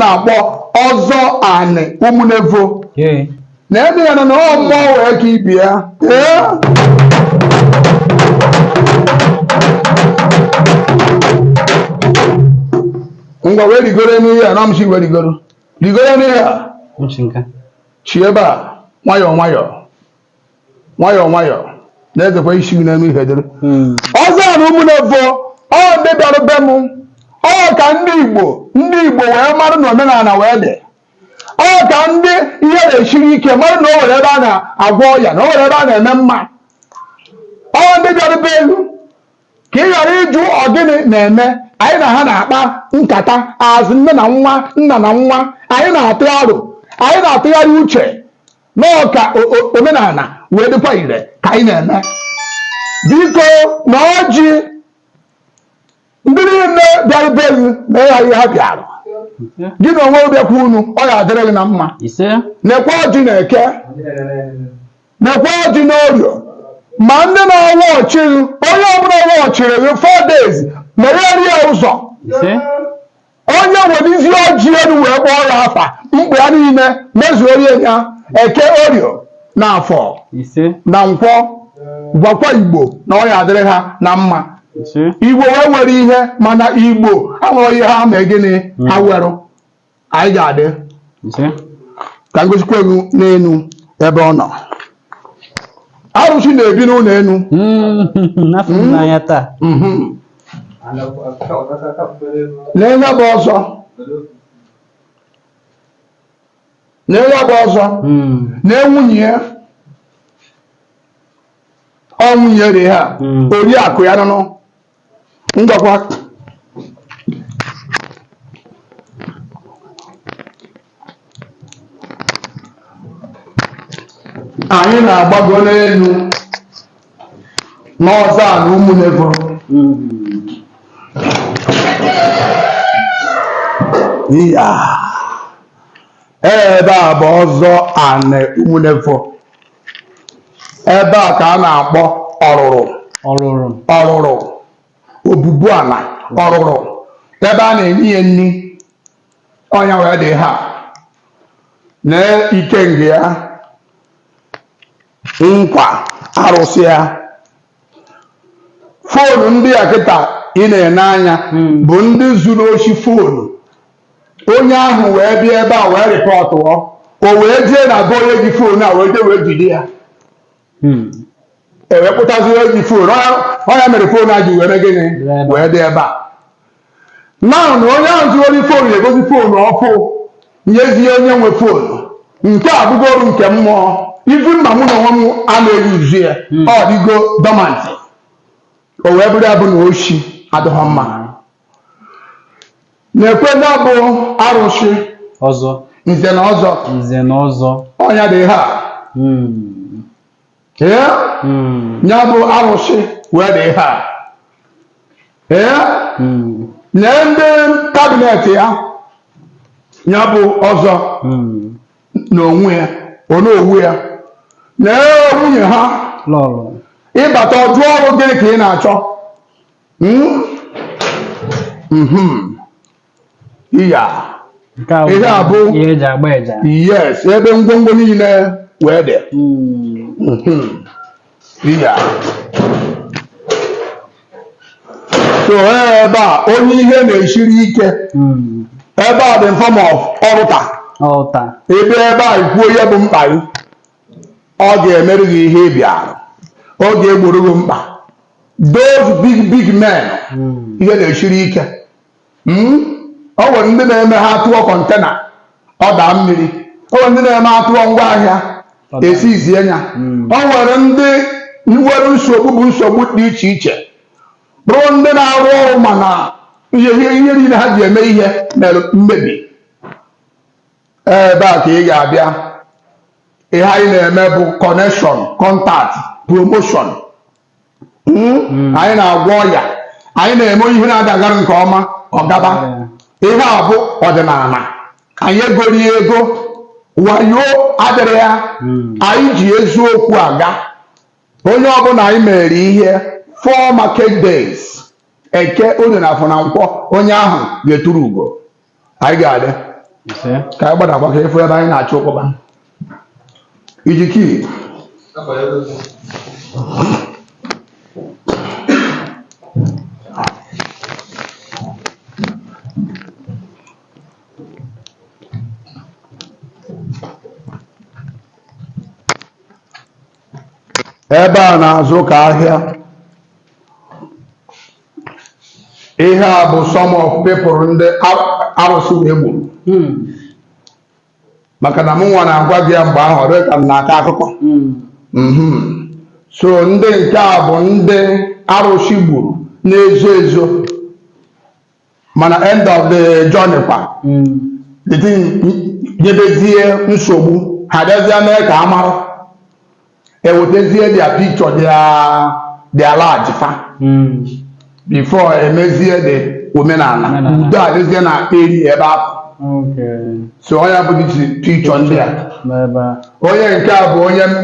na-akpọ ọzọ anị ụmụnevo na ebe ya na na ọ mmụọ wee ka ị bịa ngwa wee rigoro n'ihe a na m si wee rigoro rigoro n'ihe a si ebe a nwayọọ nwayọọ nwayọọ nwayọọ na-ezekwa isi gị n'elu ihe dịrị hmm. ọzọ anị ụmụnevo ọ ndị bịara be m ọ ka ndị Igbo ndị Igbo wee mara na omenala wee dị ọ ka ndị ihe na-esiri ike mara na o nwere ebe a na-agwọ ọya na o nwere ebe a na-eme mma ọ ndị bịara be elu ka ị ghara ịjụ ọ gịnị na-eme anyị na ha na-akpa nkata azụ nne na nwa nna na nwa anyị na-atụ aro anyị na-atụgharị uche na ọ ka omenala wee dịkwa ire ka anyị na-eme biko na ọjị ndị niile bịara be gị na ịgha ihe ha bịara gị na onwe bịakwa unu ọ ga-adịrị gị na mma nekwa ọjị n'eke nekwa ọjị n'orio ma ndị na-awa ọchị onye ọbụla ọwa ọchịrị gị four days meghere ya ụzọ onye wenizi ọjị elu wee kpọọ ya afa mkpa ya niile mezuoro ya eke orio na afọ ise na nkwọ gwakwa igbo na ọ ya-adịrị ha na mma ise igbo wee nwere ihe mana igbo amarọ ihe ha mee gịnị ha nwerụ anyị ga-adị ise ka m gosikwa unu n'elu ebe ọ nọ arụsị na-ebi n'ụlọ enu Mm, afụ m n'anya taa Mhm. lee ya bụ ọzọ lee ya bụ ọzọ Mm, lee nwunye ya ọ nwunye ya dị ha Mm. oriakụ ya nụnụ ngwakwa anyị na-agbago n'elu n'ọzọ anị ụmụnevo ya ebe a bụ ọzọ anị ụmụnevo ebe a ka a na-akpọ ọrụrụ ọrụrụ ọrụrụ obubu ala ọrụrụ ebe a na-enye ya nri ọ nya wee dị ha na ikenga ya nkwa arụsị ya foonu ndị a kịta ị na-ene anya hmm. bụ ndị zuru oshi foonu onye ahụ wee bịa ebe a wee rịpọtụọ o wee jee na be onye ji foonu a wee jee wee jide ya hmm. e wee kpụtazi onye ji foonu ọ nya mere foonu a ji wee mee gịnị wee dị ebe a Now na onye ahụ zuru ori fonu egozi fonu ọfụ nyezie onye nwe fonu. Nke a abụgoro nke mmụọ even ma mụ na onwe m anaghị use ya. Ọ dịgo dormant. O wee bụrụ ya bụ na oshi adịghọ mma. Nekwe nya bụ arụsị, Ọzọ, nze na ọzọ. nze na ọzọ. Ọ ya dị ihe a. Hmm. ee hmm. ya bụ arụsị wee dị ihe a ee hmm. na ndị kabinet ya ya bụ ọzọ hmm. na onwe ya Onowu ya na nwunye ha ị bata ọdụ ọrụ gịnị ka ị na-achọ hmm? Hmm. Iya. Nke a Ihe a bụ- ihe eji agba eja. Yes, ebe ngwongwo niile wee dị. Mm. Mhm. Iya. So ebe a onye ihe na-esiri ike Mm. ebe a dị form of altar Altar. ebe ebe a i kwuo ihe bụ mkpa gị ọ ga-emere gị ihe ị bịara ọ ga-egboro gị mkpa those big big men Mm. ihe na-esiri ike Hmm? o nwere ndị na-eme ha tụọ container ọ daa mmiri o nwere ndị na-eme a tụọ ngwa ahịa e siizie ya hmm. o nwere ndị nwere nsogbu bụ nsogbu dị iche iche bụrụ ndị na-arụ ọrụ mana ihe ihe niile ha ji eme ihe mere mmebi ebe a ka ị ga-abịa ihe anyị na-eme bụ connection contact promotion hmm? anyị na-agwọ ọya anyị na-eme ihe na-adagara nke ọma ọ gaba ihe a bụ ọdịnala anyị egoro ego wayo adịrọ ya hmm. anyị ji eziokwu aga onye ọbụla anyị mere ihe four market days eke oye na afọ na nkwọ onye ahụ ga-eturu ugo anyị ga-adị ka anyị gbadakwa ka ị fụ ebe anyị na-achọ ụkpọba iji kii ebe a na-azụ ka ahịa ihe a bụ some of people ndị arụsị wee gburu hmm. maka na m nwa na-agwa gị ya mgbe ahụ ọ dị ka m na-akọ akụkọ hmm. mhm. so ndị nke a bụ ndị arụsị gburu na-ezo ezo mana end of the journey kwa the thing nyebezie nsogbu ha bịazie mee ka a mara ewetezie their picture bịa enlarge fa before emezie the omenala udo adịzie na eri ebe ahụ so ọ nya bụ picture ndị a n'ebe a onye nke a bụ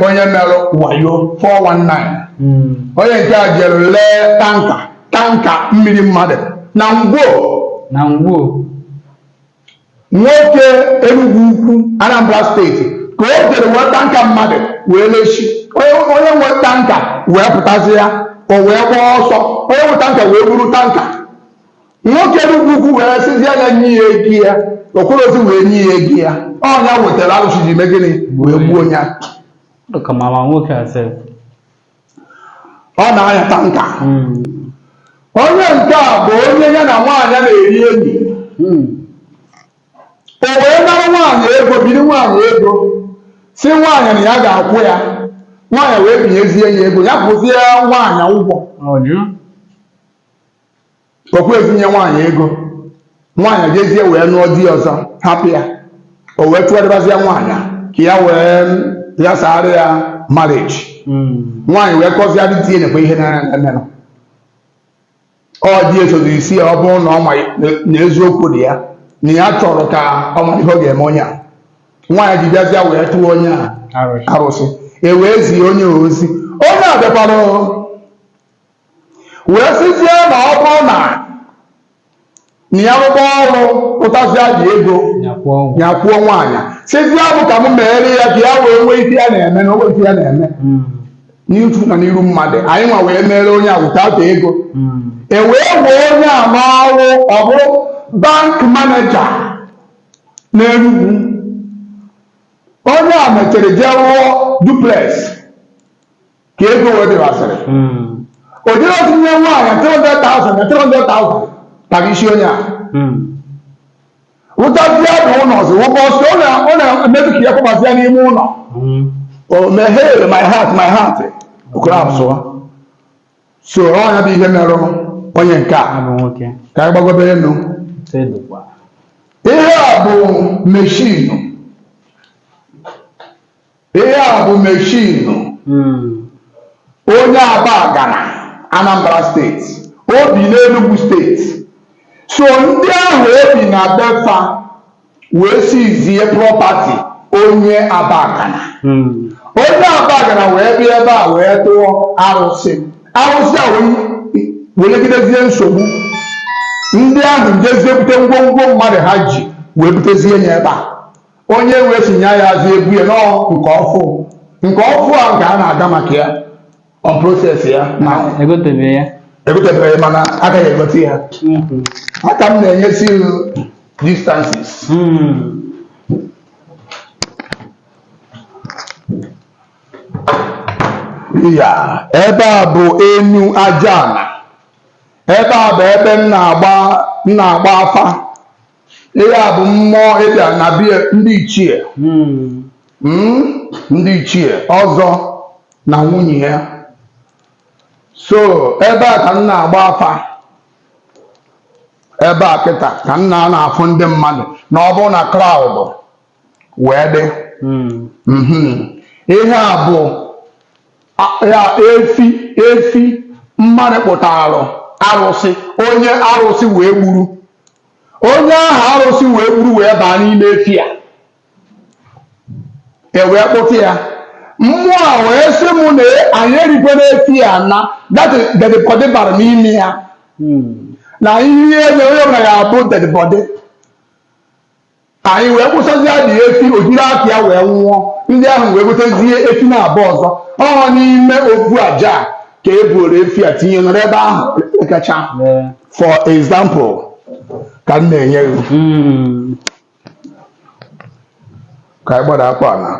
onye mere wayo 419 onye nke a jere lee tanka tanka mmiri mmadụ na Ngwo na Ngwo nwoke Enugu Ukwu Anambra steeti ka o jere wee tanka mmadụ wee lesi onye nwe tanka wee pụtazịa o wee gbaa ọsọ onye nwe tanka wee buru tanka nwoke Enugu Ukwu wee sịzi ya nye ya ego ya o kwerozi wee nye ya ego ya ọ nya wetara alụsị ji mee gịnị wee gbuo ya Look at Mama Nwoke herself. ọ na-anya tanka onye nke a bụ onye ya na nwaanyị na-eri enyi o wee nara nwaanyị ego biri nwaanyị ego sị nwaanyị na ya ga-akwụ ya nwaanyị wee binyezie ya ego ya kwụzie nwaanyị ụgwọ o kwerozi nye nwaanyị ego nwaanyị jezie wee nụọ di ọzọ hapụ ya o wee tụgharịbazie nwaanyị a, ka ya wee yasaara ya marriage nwaanyị wee kọzie di ya nekwa ihe na-emenụ ọ di ya sozi sị ya ọ bụrụ na ọ ma na eziokwu dị ya na ya chọrọ ka ọ mara ihe ọ ga-eme onye a nwaanyị ji bịazịa wee tụọ onye a arụsị e wee zie onye a ozi onye a bịakwara wee sịzie na ọ bụrụ na na ya rụkwa ọrụ pụtazịa ji ego ya kwụọ nwaanyị sịzie mụ ka m meere ya ka ya wee nwee ife ya na-eme na o nwero ife ya na-eme hmm. n'ihu na n'iru mmadụ anyị nwa wee meere onye a wụtata ego hmm. e wee wee onye a n'ọrụ ọ bụrụ bank maneja n'Enugwu onye a mechara jee rụọ duplex ka ego wee dịwasịrị o jere otu nye nwaanyị 300,000 na 300,000 tara isi onye a wụtazie na ụlọ ọzọ wụkọ ọsọ ọ na- ọ na-emetụ ka ya kwabazia n'ime ụlọ o meghere my heart my heart okoro abụsụwa so ọ nya bụ ihe merụ onye nke a abụ nwoke ka anyị gbagobere enu tedụkwa ihe a bụ meshin Ihe a bụ meshinu hmm. onye Abagana Anambra steeti o bi n'Enugwu steeti so ndị ahụ o bi na be fa wee siizie prọpati onye Abagana hmm. onye Abagana wee bịa ebe a wee tụọ arụsị arụsị a wee nyegidezie nsogbu ndị ahụ jezie bute ngwongwo mmadụ ha ji wee butezie ya ebe a onye wee si nya ya azụ ebu ya nọọ nke ọfụ nke ọfụ a nke a na-aga maka ya on proses ya na egotebeghị ya egotebeghị mana agaghị egote ya aka m na-enyesi ilu distances ya ebe a bụ enu aja ana ebe a bụ ebe m na-agba m na-agba afa Ihe a bụ mmụọ ịbịa na bie ndị ichie hmm. Hmm, ndị ichie ọzọ na nwunye ha so ebe a ka m na-agba afa ebe a kịta ka m na-anọ afụ ndị mmadụ na ọ bụrụ na kraụd wee dị hmm. mhm. ihe a bụ ya efi efi mmadụ kpụtaara arụsị onye arụsị wee gburu onye ahụ arụsị wee gburu wee baa n'ime efi a e wee kpụta ya mmụọ a wee sị m na anyị erikwana efi a na dati dedbọdị bara n'ime ya na i rie ya onye ọbụla ga-abụ dedbọdị anyị wee kwụsịzi ya dị efi o jiri aka ya wee nwụọ ndị ahụ wee gotezie efi naabọ ọzọ ọ n'ime ofu aja a ka e buru efi a tinye nọrọ ebe ahụ kacha Ee. for example ka m na-enye gị Mm. ka anyị gbada aka naa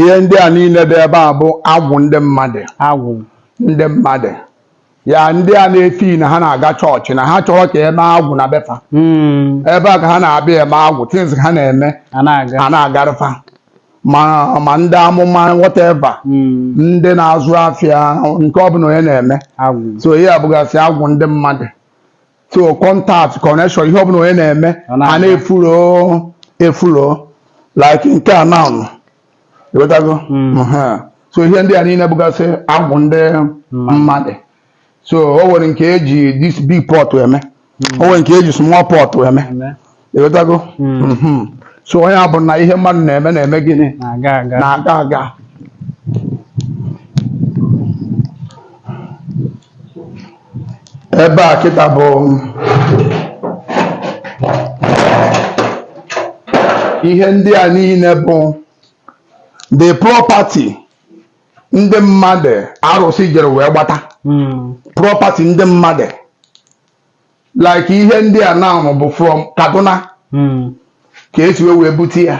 ihe ndị a niile dị ebe a bụ agwụ ndị mmadụ agwụ ndị mmadụ ya ndị a na-eti na ha na-aga chọọchị na ha achọrọ ka e mee agwụ na be fa hmm. ebe a ka ha na-abịa eme agwụ tins ha na-eme a na-agarụ fa ma ndị amụma wọteva hmm. ndị na-azụ afịa nke ọbụla onye na-eme so ihe a bụgasị agwụ ndị mmadụ so contact connection ihe ọbụla onye na-eme Ọ na-aga. a na-efulo efulo like nke a now ịghọtago Mhm. so ihe ndị a niile bụgasị agwụ ndị mmadụ so o nwere nke e ji this big pot eme o nwere nke e ji small pot eme Eme. ịghọtago Mhm. so ọ nya bụ na ihe mmadụ na-eme na-eme gịnị na-aga aga na-aga aga ebe a kịta bụ ihe ndị a niile bụ the property ndị mmadụ arụsị jere wee gbata Mm. property ndị mmadụ like ihe ndị a now bụ from Kaduna hmm. ka esi wee bute ya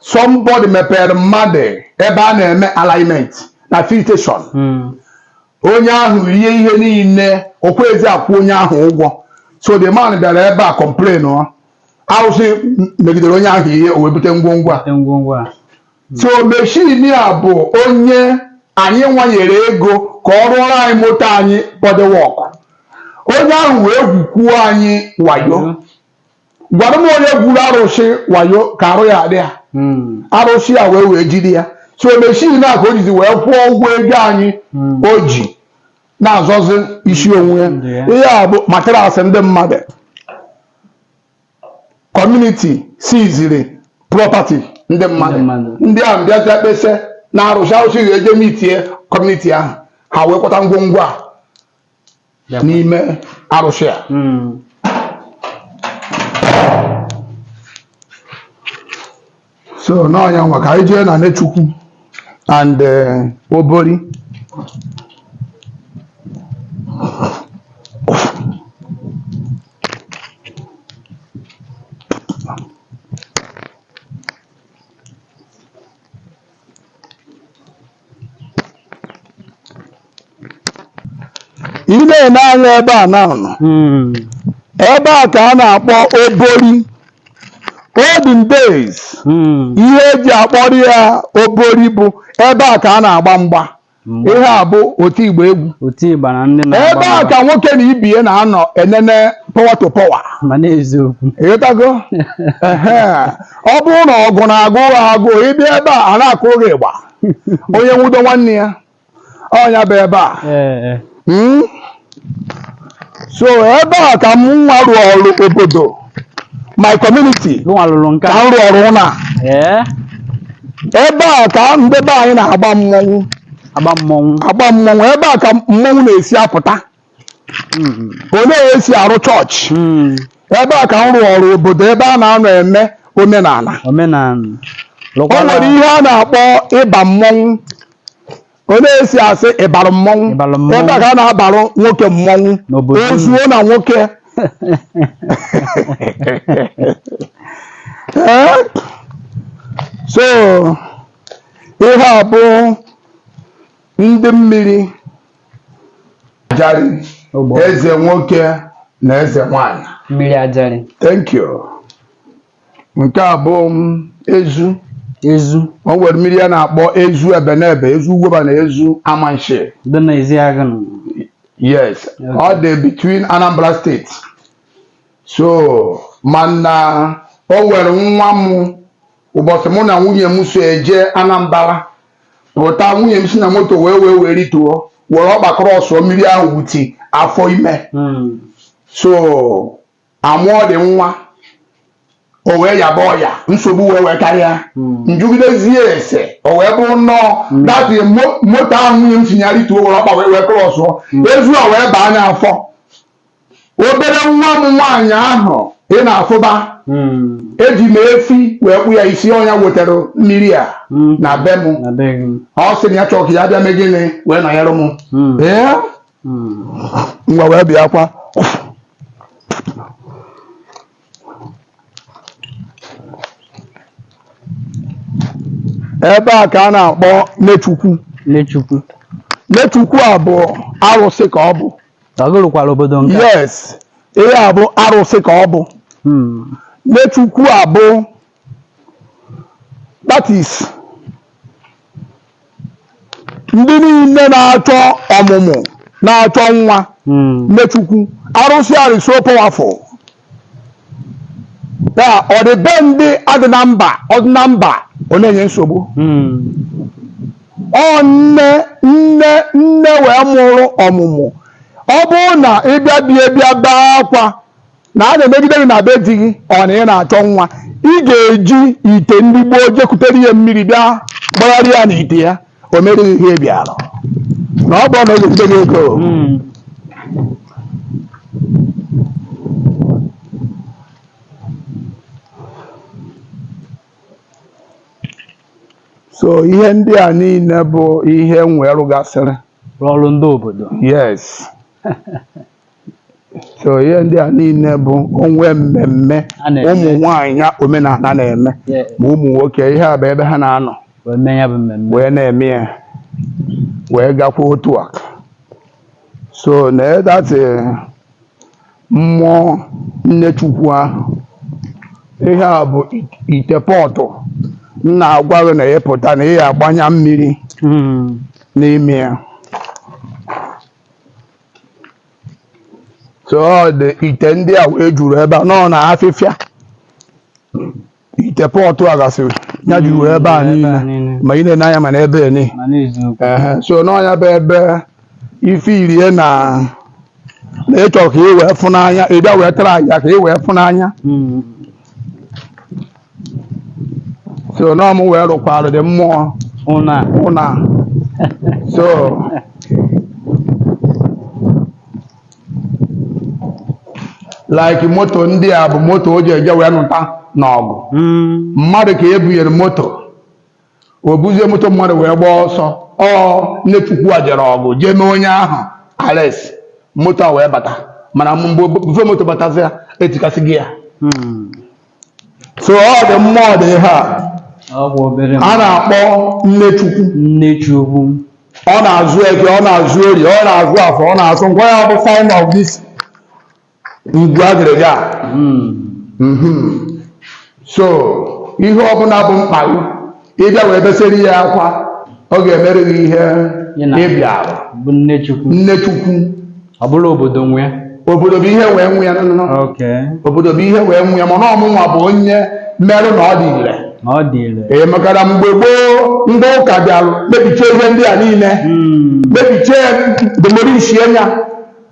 somebody mepere mmadụ ebe a na-eme alignment na filtration hmm. onye ahụ rie ihe niile o kwezi akwụ onye ahụ ụgwọ so the man bịara ebe a complainụọ arụsị megidere onye ahụ ihe o wee bute ngwongwo a So machine a bụ onye anyị nwanyere ego ka ọ rụọrọ anyị moto anyị body work. Onye ahụ wee gwukwuo anyị wayo. Gwara m onye gwuru arụsị wayo ka arụ ya-adị ya. Hmm. Arụsị a wee wee jide ya. So machine a ka o jizi wee kwụọ ụgwọ ego anyị hmm. o ji na-azọzi isi onwe ya. Hmm, ihe a bụ materasị ndị mmadụ. community seiziri property ndị mmadụ ndị ahụ bịazie kpesa na arụsị arụsị ga-eje meetie community ahụ ha wee kwata ngwongwo a n'ime arụsị a hmm. so n'ọ nya nwa ka anyị jee na Nechukwu and eh, Obori ị na-ene anya ebe a na nọ Mm. ebe a ka a na-akpọ Obori olden days Mm. ihe e ji akpọrọ ya Obori bụ ebe a ka a na-agba mgba Mgba. ihe a bụ oti ịgba egwu Oti ịgba na ndị na-agba ebe a mgba. ka nwoke na ibie na-anọ enene power to power ma na-eziokwu ịghọtago Ehe. ọ bụrụ na ọgụ na-agụ ha agụụ ị bịa ebe a a na-akụrụ gị ịgba onye nwudo nwanne ya ọ nya bụ ebe a hmm? so ebe a ka m nwa rụọrọ obodo my community ka m rụọrọ na ebe a ka ndị be anyị na-agba mmọnwụ agba mmọnwụ ebe a ka mmọnwụ na-esi apụta Mm. olee esi arụ chọọchị Mm. ebe a ka m rụọrọ obodo ebe a na-anọ eme omenala omenala o nwere ihe a na-akpọ ịba mmọnwụ olee esi asị ịbara mmọnwụ Ịbara mmọnwụ. ebe a ka a na-abarụ nwoke mmọnwụ N'obodo unu. o zuo na nwoke Ee? so ihe a bụ ndị mmiri ajari Ogbo. eze nwoke na eze nwanyị mmiri ajari thank you nke a bụ ezu ezu o nwere mmiri a na-akpọ ezu Ebenebe ezu Ugwuoba na ezu Amansea dị na Ezeagu nụ. yes ọ dị between Anambra State so mana o nwere nwa m ụbọchị mụ na nwunye m so eje Anambra pụta nwunye m si na moto wee wee wee rituo were ọkpa krọsụọ mmiri ahụ with afọ ime hmm. so amụọ dị nwa o wee yaba ọya nsogbu wee wee karịa hmm. m jụgidezie ese o wee bụrụ na ọ hmm. that moto ahụ nwunye m si ya rituo were ọkpa wee wee krọsụọ ezu a wee baa nya afọ obere nwa m nwaanyị ahụ ị na-afụba eji m efi wee kpụ ya isi ọ nya wetara mmiri a na be m ọ sị na ya chọọ ka ya bịa mee gịnị wee nọnyere m ee ngwa wee bịakwa ebe a ka a na-akpọ nechukwu Nechukwu. nechukwu a bụ arụsị ka ọ bụ Ọ gị rụkwara obodo nke a. yes ihe a bụ arụsị ka ọ bụ Hmm. Nechukwu a bụ that is ndị niile na-achọ ọmụmụ na-achọ nwa Hmm. Nechukwu arụsị a is so powerful ya ọ dị be ndị adị na mba ọ dị na mba ọ na-enye nsogbu ọ nne nne nne wee mụrụ ọmụmụ ọ bụrụ na ị bịa bịa bịa bee akwa na a na-emegide gị na be di gị ọ na ị na-achọ nwa ị ga-eji ite ndị gboo je kutere ya mmiri bịa gbagharịa ya n'ite ya o mere gị ihe ị bịara na ọ bụrụ na o zite gị ego Mm. so ihe ndị a niile bụ ihe m wee rụgasịrị Rụọrọ ndị obodo. yes so ihe ndị a niile bụ o nwee mmemme A na-eme. ụmụ nwaanyị ya omenala na-eme Yeah. ma ụmụ nwoke ihe a bụ ebe ha na-anọ wee mee ya bụ mmemme wee na-eme ya wee gakwa otu a so na that mmụọ nne chukwu ahụ ihe a bụ it- ite pọtụ m na-agwa gị na ị pụta na ị agbanya mmiri Mm. n'ime ya so ọ dị ite ndị a wee juru ebe a nọ na afịfịa ite pọtụ a gasị ya juru ebe a niile ma ị na-ene anya ma na ebe a niile ma na-eziokwu Ehe, so n'ọnya bụ ebe ife irie na na ị chọọ ka ị wee fụ n'anya ị bịa wee tara aja ka ị wee fụ n'anya Mm. so na ọ mụ wee rụkwara the mmụọ ụnọ a so like moto ndị a bụ moto o ji eje wee nụta n'ọgụ Mm. mmadụ ka e bunyere moto o buzie moto mmadụ wee gbaa ọsọ ọ nne chukwu a jere ọgụ jee mee onye ahụ arrest moto a wee bata mana before moto batazia e tikasịgo ya so ọ dị mmụọ dị ihe a ọ bụ obere a na-akpọ nne chukwu nne chukwu ọ na-azụ eke ọ na-azụ orie ọ na-azụ afọ ọ na-azụ nkwọ ya bụ sign of this igwe agịrịga a. Mhm. so ihe ọbụla bụ mkpa gị ị bịa wee besere ya akwa ọ ga-emere gị ihe Ya na- ị bịara. bụ nne chukwu nne chukwu ọ bụrụ obodo nwe ya obodo bụ ihe wee nwe ya nụnụ. oke obodo bụ ihe wee nwe ya mana ọ mụnwa bụ onye merụ na ọ dị ire na ọ dị ire ee maka na mgbe gboo ndị ụka bịara mebichie ihe ndị a niile Mm. mebichie demolishie ya